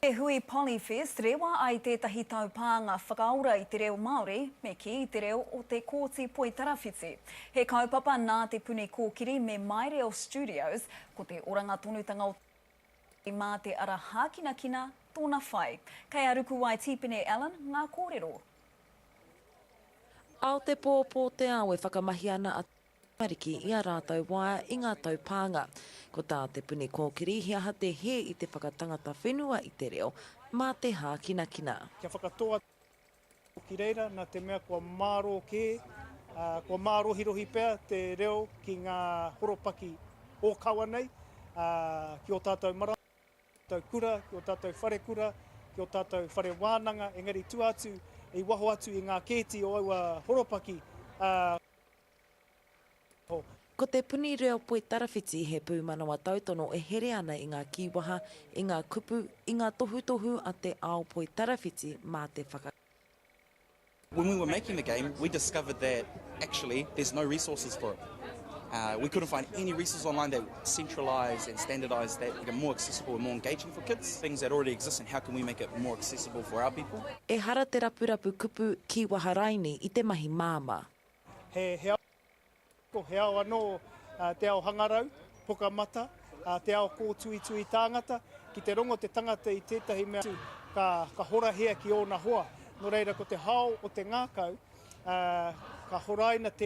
Te Hui Polyfest, rewa ai tētahi taupānga whakaora i te reo Māori, me kī, i te reo o Te Kooti Poitarawhiti. He kaupapa nā Te Puni Kōkiri me My Reo Studios, ko te oranga tonutanga o te Māori mā te ara hākinakina tōna whai. Kei a Rukuwai Tīpene Allan ngā kōrero. Aotepo o Pōteao e whakamahi ana a. tamariki i ā rātou waea i ngā tau pānga. Ko tā Te Puni Kōkiri he aha te hē i te whakatangata whenua i te reo, mā te hākinakina. Kia whakatō atu anō ki reira nā te mea kua mārō kē, ā, kua mārohirohi pea te reo ki ngā horopaki ōkawa nei, ā, ki ō tātou marama, ki ō tātou kura, ki ō tātou wharekura, ki ō tātou whare wānanga, engari tua atu, i waho atu i ngā kēti o aua horopaki, ā. Ko te puni reo poitarawhiti he pūmanawa tautono e here ana i ngā kīwaha, i ngā kupu, i ngā tohutohu a te ao poitarawhiti mā te whakakā. When we were making the game, we discovered that actually there's no resources for it. We couldn't find any resources online that. centralise and standardise that, make it more accessible and more engaging for kids, things that already exist and how can we make it more accessible for our people. Ehara te rapurapu kupu ki Waharaini i te mahi māmā. He ao ako, he ao anō te ao hangarau, poka mata, te ao kōtuitui tāngata, ki te rongo te tangata i tētahi mea atu ka horahia ki ōna hoa. Nō reira ko te hao o te ngākau ka horaina tēnā.